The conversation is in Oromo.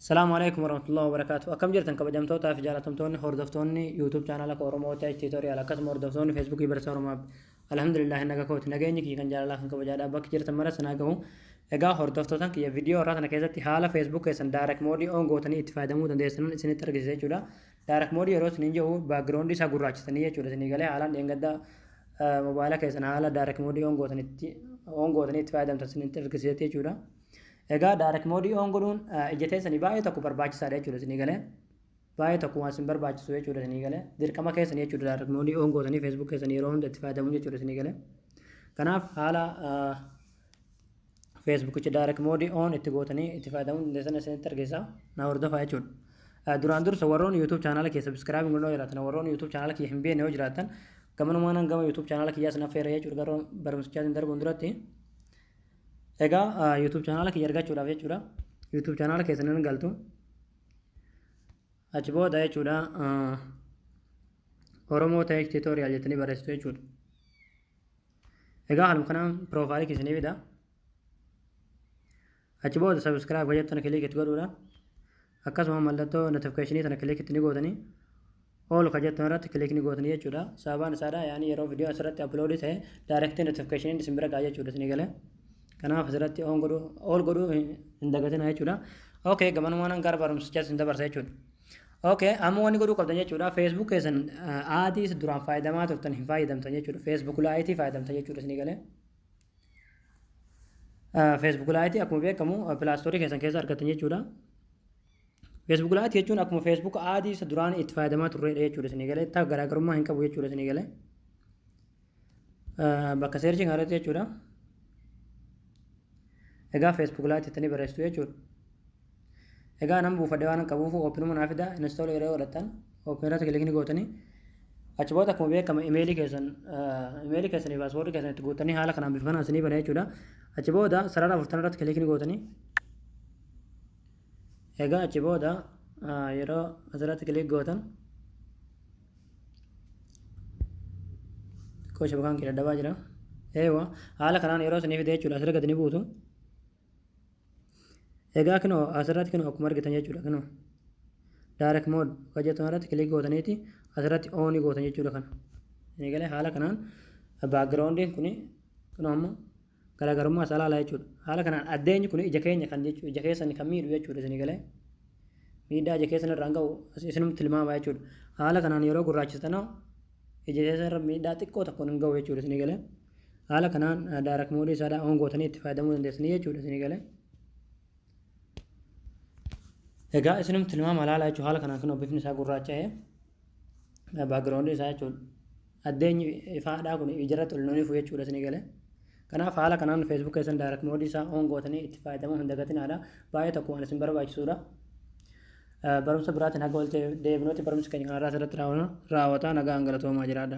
Salaamu alaikum warahmatullahi wabarakatuh. Akkam jirtan kabajamtootaa fi jaalatamtoonni hordoftoonni YouTube chaanala koo Oromoo Tech Tutorial akkasuma hordoftoonni Facebook Barsiisa Oromoo App. Alhamdulillah naga kooti nageenyi kiyya kan jaalalaa kan kabajaadhaa bakki jirtan mara sanaa gahu. Egaa hordoftootan kiyya viidiyoo irraa kana keessatti haala Facebook keessan direct mode on gootanii itti fayyadamuu dandeessan isinitti argisiisa jechuudha. Dark mode yeroo isiniin jedhu background isaa gurraachisanii jechuudha isinii galee haalaan dheengadda mobaayila keessan haala dark mode on gootanitti on gootanii itti fayyadamtan isinitti argisiisetti jechuudha. Egaa dark mode on godhuun ija teessanii baay'ee tokko barbaachisaadha jechuudha isinii galee. Baay'ee tokko waan isin barbaachisu jechuudha isinii galee. Dirqama keessan jechuudha dark mode on gootanii Facebook keessan yeroo hunda itti fayyadamuun jechuudha isinii galee. Kanaaf haala feesbuukicha direct mode on itti gootanii itti fayyadamuu dandeessan isinitti argisiisa na hordofaa jechuudha. Eh, Duraan dursa warroonni YouTube chaanaala kee subscribe godhoo jiraatan warroonni YouTube chaanaala kee hin beekne yoo jiraatan gamanumaan gama YouTube chaanaala kiyyaa isin affeera jechuudha garuu barumsichaatiin darbuun duratti egaa eh, YouTube chaanaala kiyya argachuudhaaf jechuudha YouTube chaanaala keessan hin galtu achi booda jechuudha eh, Oromoo Tech Tutorial jettanii barreessitu jechuudha. Egaa haaluma kanaan piroofaayilii keessanii fida. Achi booda sabiskiraayib hojjettu kana kiliik itti godhuudha. Akkasuma mallattoo notifikeeshinii sana kiliik itti ni gootanii. Oolu kan jettan irratti kiliik ni gootanii jechuudha. Sababaan isaadha yaani yeroo viidiyoo asirratti aploodii ta'e daayirektii notifikeeshiniin isin bira ga'a jechuudha isinii galee. Kanaaf asirratti oon godhuu ool godhuu hin dagatinaa jechuudha. Okay gamanumaan gara barumsichaa isin dabarsa jechuudha. Okay, amma wanni godhuu qabdan jechuudha. Facebook keessan aadiis duraan fayyadamaa turtan hin fayyadamtan jechuudha. Facebook laayitii fayyadamtan jechuudha isinii galee. Facebook laayitii akkuma beekamu pilaastoorii keessan keessa argattan jechuudha. Facebook laayitii jechuun akkuma Facebook aadiis duraan itti fayyadamaa turredha jechuudha isinii galee. Taa garaagarummaa hin qabu jechuudha isinii galee. bakka seerchii kanarratti jechuudha. Egaa Facebook Lite jettanii barreessitu jechuudha. Egaa nama buufadhe waan qabuuf oopinuma naa fida install yeroo godhattan oopin irratti kilikni gootanii achi booda akkuma beekama imeelii keessan imeelii keessan fi paaswoordii keessan itti guuttanii haala kanaan bifa kanaan isinii bana jechuudha. Achi booda sarara afurtan irratti kilikni gootanii Egaa achi booda yeroo asirratti kiliik gootan koo shabakaan kee dadhabaa jira. Eewa haala kanaan yeroo isinii fidee jechuudha asirra gadi ni buutu. Egaa kinoo asirratti kinoo akkuma argitan jechuudha kinoo. Direct mode kan jettan irratti kiliik gootaniiti asirratti oonii gootan jechuudha kana. Eegalee haala kanaan backgroundiin kuni kinoo amma garaagarummaa isaa ilaalaa jechuudha. Haala kanaan addeenyi kun ija keenya kan jechuudha. Ija keessan kan miidhu jechuudha isinii galee. Miidhaa ija keessan irraan ga'u isinumti tilmaamaa jechuudha. Haala kanaan yeroo gurraachistanoo ija keessan irra miidhaa xiqqoo tokkoon hin ga'u jechuudha isinii galee. Haala kanaan daarak moodii isaa oon gootanii itti fayyadamuu dandeessanii jechuudha isinii galee. Egaa isinumti tilmaamaa ilaalaa jechuudha haala kanaan kunoo bifni isaa gurraacha'ee. background isaa jechuudha. Addeenyi ifaadhaa kun ijarratti ol nuunifu jechuudha isinii galee. Kanaaf haala kanaan Facebook keessan direct mode isaa on gootanii itti fayyadamuu hin dagatinaadha. Baay'ee tokko waan isin barbaachisuudha. Barumsa biraatiin haga ooltee deebinuuti barumsi keenya kanarraa asirratti raawwata nagaan galatoomaa jiraadha.